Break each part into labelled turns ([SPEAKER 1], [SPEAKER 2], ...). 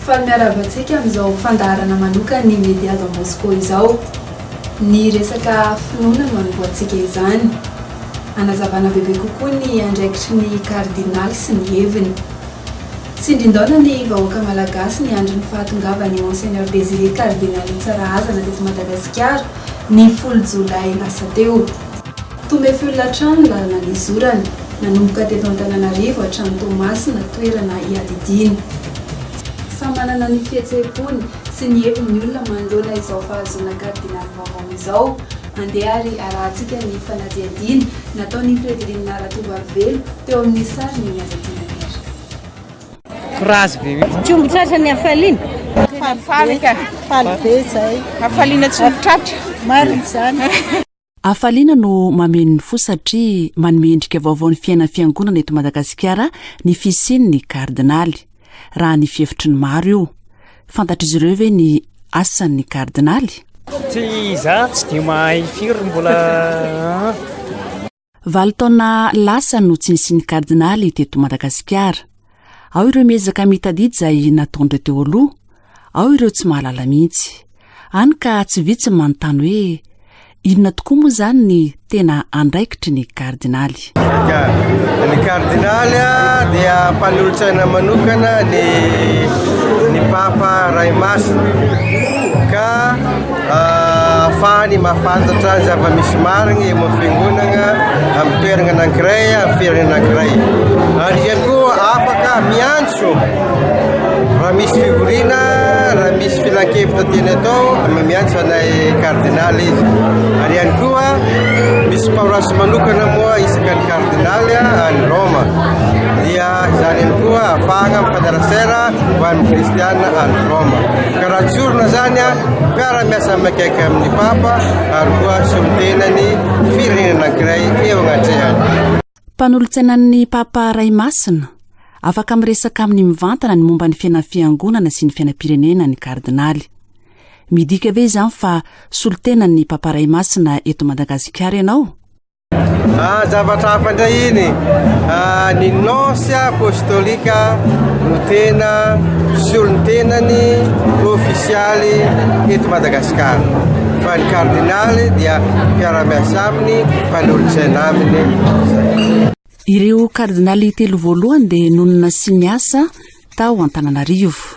[SPEAKER 1] Faly miarahaba antsika amin'izao fandaharana manokan'ny Média Don Bosco izao. Ny resaka finoana no anombohantsika izany. Hanazavana bebe kokoa ny andraikitry ny Kardinaly sy ny heviny. Tsindrindaona ny vahoaka Malagasy niandry ny fahatongavan'i Monseigneur Désiré Kardinaly Tsarahazana teto Madagasikara, ny folo jolay lasa teo. Tomefl hatrany ny lalana nizorany, nanomboka teto Antananarivo hatrany Toamasina, toerana iadidiany. Samy manana ny fihetseham-pony sy ny heviny ny olona manoloana izao fahazoana Kardinaly vaovao izao. Andeha ary arahantsika ny fanadihadiana nataon'i Fredrine Ratovoavelo teo amin'ny sariny ny Aza Tia Nanera. Tsy omby tratra ny hafaliana. Faly ka. Faly be izay. Hafaliana tsy omby tratra. Marina izany. Hafaliana no mameno ny fo satria manome endrika vaovao ny fiainan'ny Fiangonana eto Madagasikara ny fisian'ny Kardinaly, raha ny fihevitry ny maro io. fantatr'izy ireo ve ny asan'ny kardinaly tsy za tsy de mahay firy mbola valo taona lasa no tsy nisin'ny kardinaly teto madagasikara ao ireo miezaka mitadidy izay nataondre teo aloha ao ireo tsy mahalala mihitsy any ka tsy vitsy manontany hoe Inona tokoa moa izany ny tena andraikitry ny kardinaly? Ny kardinaly dia mpanolotsaina manokana ny ny papa ray masina ka afahany mahafantatra ny zava-misy marigny eo amin'ny fiangonagna amin'ny toeragna anankiray amin'ny firenena anankiray ary ihany koa afaka miantso raha misy fivoriana raha misy filankevitra tiany atao miantso Ilay kardinaly izy. Ary ihany koa misy paroasy manokana moa isaka ny kardinaly any Roma. Dia izany ihany koa afahana mifanerasera ho an'ny kristiana any Roma. Ka raha tsorina izany mpiara miasa mikaiky amin'ny papa ary koa solontenan'ny firenena anankiray eo agnatrehany. Mpanolotsainan'ny Papa Ray Masina, afaka miresaka aminy mivantana ny momba ny fiainan'ny Fiangonana sy ny fiainam-pirenena ny Kardinaly. Midika ve izany fa solontenan'ny Papa Ray Masina eto Madagasikara ianao? Ah, zavatra hafa indray iny. Ah, ny nonce apostolique no tena solontenany ofisialy eto Madagasikara. Fa ny kardinaly dia mpiara-miasa aminy Mpanolotsaina aminy izay. Ireo kardinaly telo voalohany dia nonina sy niasa tao Antananarivo.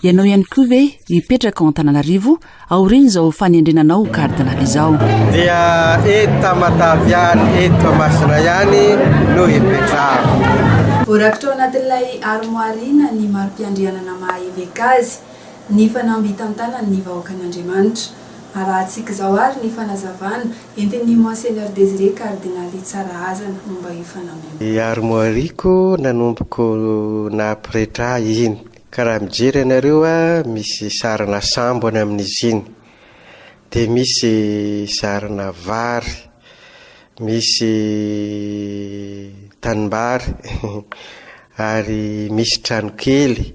[SPEAKER 1] Ianao ihany koa ve hipetraka ao Antananarivo aorian'izao fanendrena anao ho kardinaly izao? Dia eto Matavihany eto Toamasina ihany no hipetrahako. Voarakitra ao anatin'ilay armoire ina ny mari-piandrianana maha-eveka azy, ny fanamby itantanany ny vahoakan'Andriamanitra. Arahantsika izao ary ny fanazavana entin'ny Monseigneur Désiré Cardinal Tsarahazana momba io fanamby io. Ny armoire-ko nanomboko nahapretra ahy iny, ka raha mijery ianareo misy sarina sambo any amin'izy iny, dia misy sarina vary, misy tanimbary ary misy tranokely.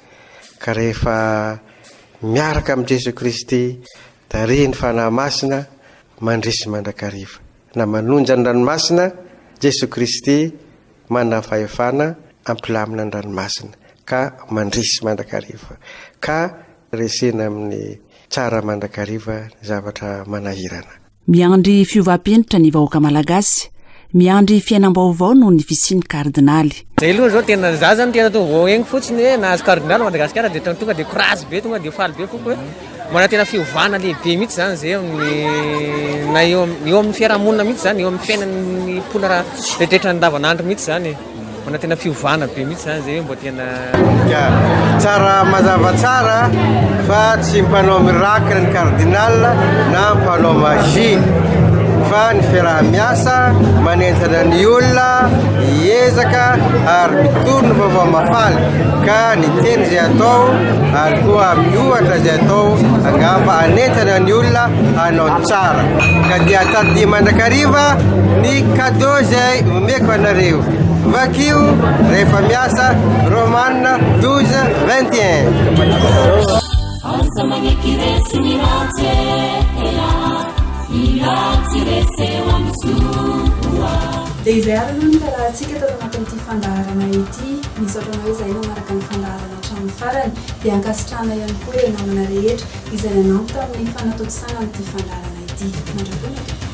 [SPEAKER 1] Ka rehefa miaraka amin'i Jesoa Kristy tarihin'ny Fanahy Masina mandresy mandrakariva, na manonja ny ranomasina, Jesoa Kristy manana fahefana hampilamina ny ranomasina ka mandresy mandrakariva, ka resena amin'ny tsara mandrakariva ny zavatra manahirana. Miandry fiovam-penitra ny vahoaka malagasy, miandry fiainam-baovao noho ny fisian'ny kardinaly. Zay aloha zao tena za zany tena tonga vao egny fotsiny hoe nahazo cardinal Madagasikara de tena tonga de courage be tonga de faly be foko hoe mbola tena fiovana lehibe mihitsy zany zay amin'ny na eo eo amin'ny fiarahamonina mihitsy zany eo amin'ny fiainan'ny mponina rehetra andavanandro mihitsy zany e. Mbola tena fiovana be mihitsy zany zay mbola tena tsara mazava tsara fa tsy mpanao miracle ny cardinal na mpanao magie fa ny fiaraha-miasa manenjana ny olona hiezaka ary mitory ny vaovao mafaly ka ny teny izay atao ary koa miohatra izay atao angamba anenjana ny olona hanao tsara ka dia tadidia mandrakariva ny cadeau izay Tiako anareo. Vakio rehefa miasa Roman 12 21. Aza magneky resy ny ratsy ela Ny ratsy resy eo amin'ny soa Dia izay ary aloha ny fiarahantsika tato anatin'ity fandaharana ity. Misaotra anao izay nanaraka ny fandaharana hatramin'ny farany. Dia ankasitrahana ihany koa ireo namana rehetra izay nanampy tamin'ny fanatontosana an'ity fandaharana ity. Mandra-pionatra!